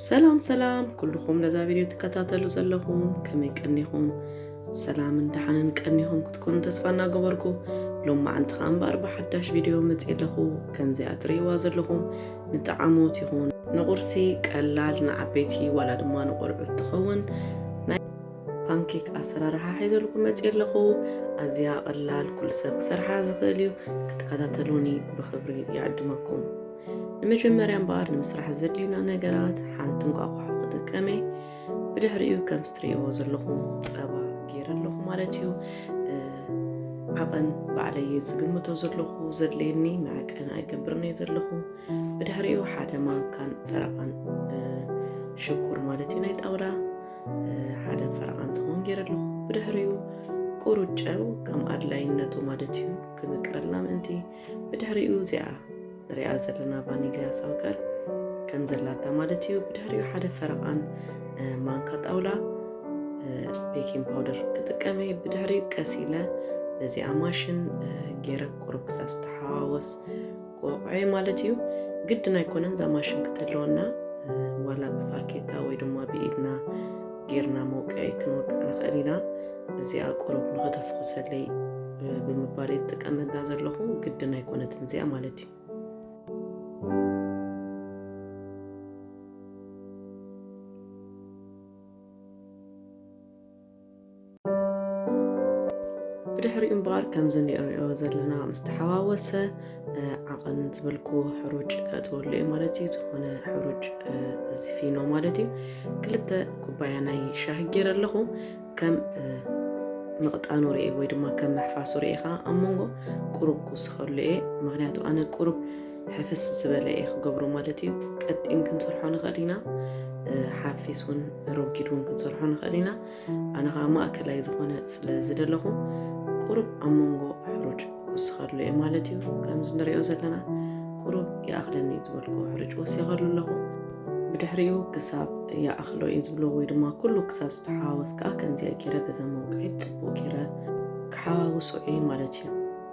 ሰላም ሰላም ኩልኹም ነዛ ቪድዮ ትከታተሉ ዘለኹም ከመይ ቀኒኹም ሰላምን ደሓንን ቀኒኹም ክትኮኑ ተስፋ እናገበርኩ ሎም መዓንቲ ከዓ እምበኣር ብሓዳሽ ቪድዮ መፅእ ኣለኹ ከምዚኣ ትርእይዋ ዘለኹም ንጣዓሞት ይኹን ንቁርሲ ቀላል ንዓበይቲ ዋላ ድማ ንቆልዑት ትኸውን ፓንኬክ ኣሰራርሓ ሒዘልኩም መፅየ ኣለኹ። ኣዝያ ቐላል ኩሉ ሰብ ክሰርሓ ዝኽእል እዩ። ክትከታተሉኒ ብኽብሪ ይዕድመኩም። ንመጀመርያ እምበኣር ንምስራሕ ዘድልዩና ነገራት ሓንቲ እንቋቑሖ ክጥቀመ ብድሕሪኡ ከምስ ትርእይዎ ዘለኹም ፀባ ገይረ ኣለኹ ማለት እዩ። ዓቐን ባዕለየ ዝግምቶ ዘለኹ ዘድለየኒ መዕቀን ኣይገብርን እየ ዘለኹ። ብድሕሪኡ ሓደ ማንካን ፈረቓን ሽኩር ማለት እዩ ናይ ጣውላ ሓደን ፈረቓን ዝኸውን ገይረ ኣለኹ ብድሕሪኡ ቁሩብ ጨው ከም ኣድላይነቱ ማለት እዩ ክምቅረልና ምእንቲ ብድሕሪኡ እዚኣ ንሪኣ ዘለና ቫኒልያ ሳውከር ከም ዘላታ ማለት እዩ ብድሕሪኡ ሓደ ፈረቓን ማንካ ጣውላ ቤኪንግ ፓውደር ክጥቀመ ብድሕሪኡ ቀስ ኢለ በዚኣ ማሽን ገይረ ቁሩብ ክሳብ ዝተሓዋወስ ቆቕዔ ማለት እዩ ግድን ኣይኮነን እዛ ማሽን ክትህልወና ዋላ ብፋርኬታ ወይ ድማ ብኢድና ጌርና መውቅዒ ክንወቅዕ ንኽእል ኢና እዚኣ ቁሩብ ንኸተፍኹሰለይ ብምባል እየ ዝጥቀመላ ዘለኹ ግድን ኣይኮነትን እዚኣ ማለት እዩ ብድሕሪኡ እምበኣር ከምዚ ንርእዮ ዘለና ምስ ተሓዋወሰ ዓቐን ዝበልኩ ሕሩጭ ከእትወሉ እየ ማለት እዩ። ዝኾነ ሕሩጭ እዚ ፊኖ ማለት እዩ። ክልተ ኩባያ ናይ ሻሂ ገይረ ኣለኹ ከም ምቕጣኑ ርኤ ወይ ድማ ከም መሕፋሱ ርኤኻ ኣብ መንጎ ቁሩብ ክውስኸሉ እየ ምክንያቱ ኣነ ቁሩብ ሕፍስ ዝበለ እየ ክገብሮ ማለት እዩ ቀጢን ክንስርሖ ንኽእል ኢና ሓፊስ እውን ረጊድ እውን ክንሰርሖ ንኽእል ኢና ኣነ ከዓ ማእከላይ ዝኾነ ስለ ዝደለኹ ቁሩብ ኣብ መንጎ ሕሩጭ ክውስኸሉ እየ ማለት እዩ ከምዚ ንሪኦ ዘለና ቁሩብ ይኣኽለኒ ዝበልኩ ሕሩጭ ወሲኸሉ ኣለኹ ብድሕሪኡ ክሳብ ይኣኽሎ እዩ ዝብሎ ወይ ድማ ኩሉ ክሳብ ዝተሓዋወስ ከዓ ከምዚኣ ገይረ በዛ መውቅዒት ፅቡቅ ገይረ ክሓዋውሶ እየ ማለት እዩ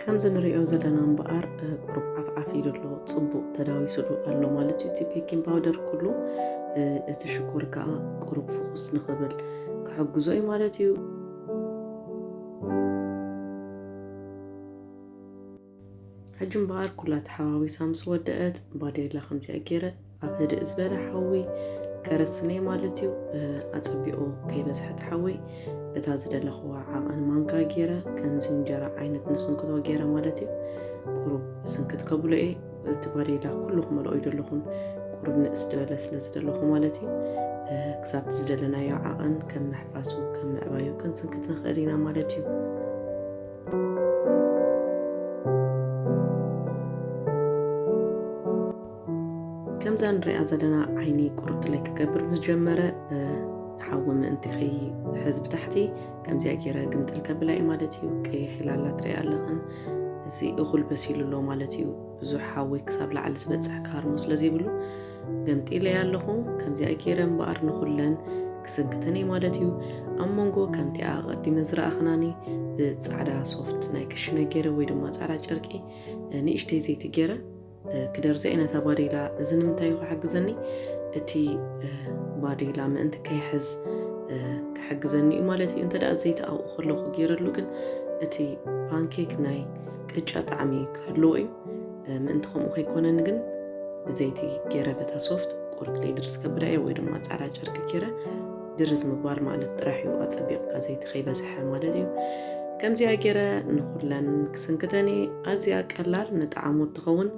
ከምዚ ንሪኦ ዘለና እምበኣር ቁሩብ ዓፍዓፍ ኢሉ ኣሎ ፅቡቕ ተዳዊሱሉ ኣሎ ማለት እዩ እቲ ቤኪንግ ፓውደር ኩሉ እቲ ሽኮር ከዓ ቁሩብ ፍኹስ ንኽብል ክሕግዞ እዩ ማለት እዩ ሕጂ እምበኣር ኩላ ተሓዋዊሳ ምስ ወደአት ባዴላ ከምዚኣ ገይረ ኣብ ህድእ ዝበለ ሓዊ ከረስነይ ማለት እዩ። ኣጸቢቑ ከይበዝሐ እቲ ሓዊ በታ ዝደለኹዋ ዓቐን ማንካ ገይረ ከምዚ እንጀራ ዓይነት ንስንክቶ ገይረ ማለት እዩ። ቁሩብ ስንክት ከብሎ እየ። እቲ ባዴላ ኩሉ ክመልኦ ይደለኹን ቁሩብ ንእስ ዝበለ ስለ ዝደለኹ ማለት እዩ። ክሳብ ዝደለናዮ ዓቐን ከም ምሕፋሱ ከም ምዕባዩ ክንስንክት ንኽእል ኢና ማለት እዩ። ከምዛ ንሪኣ ዘለና ዓይኒ ቁርጥለይ ክገብር ምስ ጀመረ ሓዊ ምእንቲ ከይሕዝ ብታሕቲ ከምዚኣ ገይረ ግምጥል ከብላ እዩ ማለት እዩ ቀይሕ ኢላ ኣላ ትሪኣ ኣለኽን እዚ እኹል በሲሉ ኣሎ ማለት እዩ ብዙሕ ሓዊ ክሳብ ላዕሊ ዝበፅሕ ካርሙ ስለ ዘይብሉ ገምጢለይ ኣለኹ ከምዚኣ ገይረ እምበኣር ንኹለን ክስንክተን እዩ ማለት እዩ ኣብ መንጎ ከምቲኣ ቀዲመ ዝረኣኽናኒ ብፃዕዳ ሶፍት ናይ ክሽነ ገይረ ወይ ድማ ፃዕዳ ጨርቂ ንእሽተይ ዘይቲ ገይረ ክደርዘ ነታ ባዴላ እዚ ንምንታይ እዩ ክሕግዘኒ እቲ ባዴላ ምእንቲ ከይሕዝ ክሕግዘኒ እዩ ማለት እዩ እንተ ዘይቲ ኣብኡ ከለኹ ገይረሉ ግን እቲ ፓንኬክ ናይ ቅጫ ጣዕሚ ክህልዎ እዩ ምእንቲ ከምኡ ከይኮነኒ ግን ብዘይቲ ገይረ በታ ሶፍት ቆርክለይ ድርዝ ከብዳ እየ ወይ ድማ ፃዕዳ ጨርቂ ገይረ ድርዝ ምባል ማለት ጥራሕ እዩ ኣፀቢቕካ ዘይቲ ከይበዝሐ ማለት እዩ ከምዚኣ ገይረ ንኩለን ስንክተኒ ኣዝያ ቀላል ንጣዕሙ እትኸውን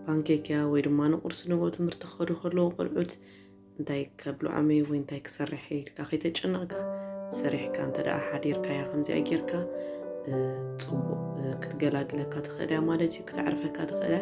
ፓንኬክ እያ ወይ ድማ ንቁርሲ ንብኡ ትምህርቲ ክኸዱ ከለዉ ቆልዑት እንታይ ከብልዖም እየ ወይ እንታይ ክሰርሕ እየ ኢልካ ከይተጨነቕካ ሰሪሕካ እንተ ደኣ ሓዲርካያ ከምዚኣ ጌርካ ፅቡቕ ክትገላግለካ ትኽእል እያ ማለት እዩ ክተዕርፈካ ትኽእል እያ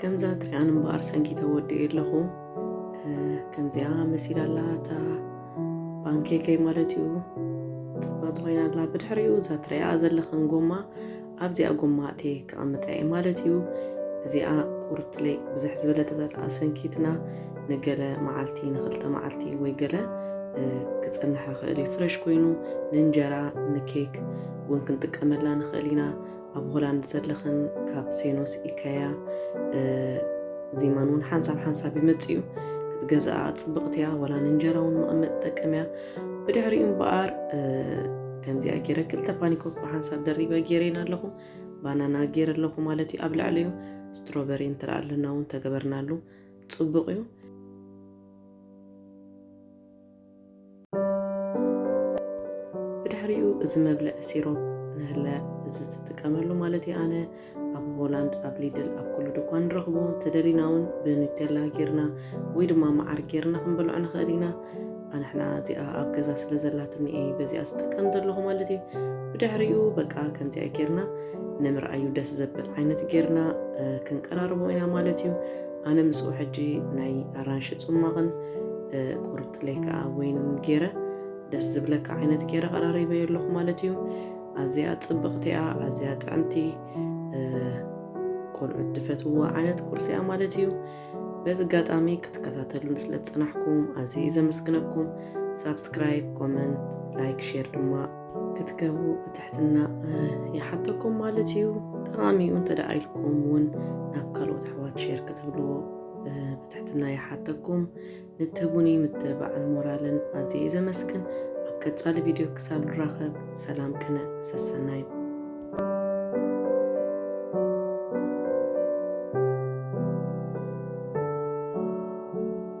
ከምዛ ትሪኣን እምበኣር ሰንኪተ ወዲኡ ኣለኹ ከምዚኣ መሲል ኣላ እታ ባንኬከይ ማለት እዩ ፅብቕቲ ኮይና ኣላ ብድሕሪኡ እዛ ትሪኣ ዘለኽን ጎማ ኣብዚኣ ጎማ እቴ ክቐምጣ እየ ማለት እዩ እዚኣ ቁርትለይ ብዝሕ ዝበለ ተዘርኣ ሰንኪትና ንገለ መዓልቲ ንክልተ መዓልቲ ወይ ገለ ክፀንሐ ክእል እዩ ፍረሽ ኮይኑ ንእንጀራ ንኬክ እውን ክንጥቀመላ ንኽእል ኢና ኣብ ሆላንድ ዘለኽን ካብ ሴኖስ ኢካያ ዚማን እውን ሓንሳብ ሓንሳብ ይመጽእ እዩ ክትገዝኣ ጽብቕቲ እያ ወላ ንእንጀራ እውን መቐመጥ ትጠቅም እያ ብድሕሪኡ እምበኣር ከምዚኣ ገይረ ክልተ ፓኒኮክ ብሓንሳብ ደሪበ ገይረይን ኣለኹ ባናና ገይረ ኣለኹ ማለት እዩ ኣብ ልዕሊኡ ስትሮበሪ እንትርኣልና እውን ተገበርናሉ ጽቡቕ እዩ ብድሕሪኡ እዚ መብልዒ ሲሮፕ ንህለ እዚ ዝጥቀመሉ ማለት እዩ ኣነ ኣብ ሆላንድ ኣብ ሊድል ኣብ ኩሉ ድኳን ንረኽቦ ተደሊና እውን ብኑቴላ ጌርና ወይ ድማ መዓር ጌርና ክንበልዖ ንኽእል ኢና ኣንሕና እዚኣ ኣብ ገዛ ስለ ዘላትኒ እየ በዚኣ ዝጥቀም ዘለኹ ማለት እዩ ብድሕሪኡ በቃ ከምዚኣ ጌርና ንምርኣዩ ደስ ዘብል ዓይነት ጌርና ክንቀራርቦ ኢና ማለት እዩ ኣነ ምስኡ ሕጂ ናይ ኣራንሺ ጽሟቕን ቁርጥለይ ከኣ ወይንን ጌረ ደስ ዝብለካ ዓይነት ጌረ ቀራሪበዮ ኣለኹ ማለት እዩ። ኣዝያ ጽብቕቲ እያ፣ ኣዝያ ጥዕምቲ ቆልዑት ድፈትውዋ ዓይነት ቁርሲ እያ ማለት እዩ። በዚ ኣጋጣሚ ክትከታተሉን ስለ ዝጸናሕኩም ኣዝየ እየ ዘመስግነኩም። ሳብስክራይብ፣ ኮመንት፣ ላይክ፣ ሼር ድማ ክትገብሩ ብትሕትና ይሓተኩም ማለት እዩ። ጠቓሚ እዩ እንተ ደኣ ኢልኩም እውን ናብ ካልኦት ኣሕዋት ሼር ክትብልዎ ብትሕትና ይሓተኩም። ንትህቡኒ ምትብባዕን ሞራልን ኣዝየ እየ ዘመስግን። ኣብ ቀጻሊ ቪድዮ ክሳብ ንራኸብ ሰላም ቅነ ሰሰናዩ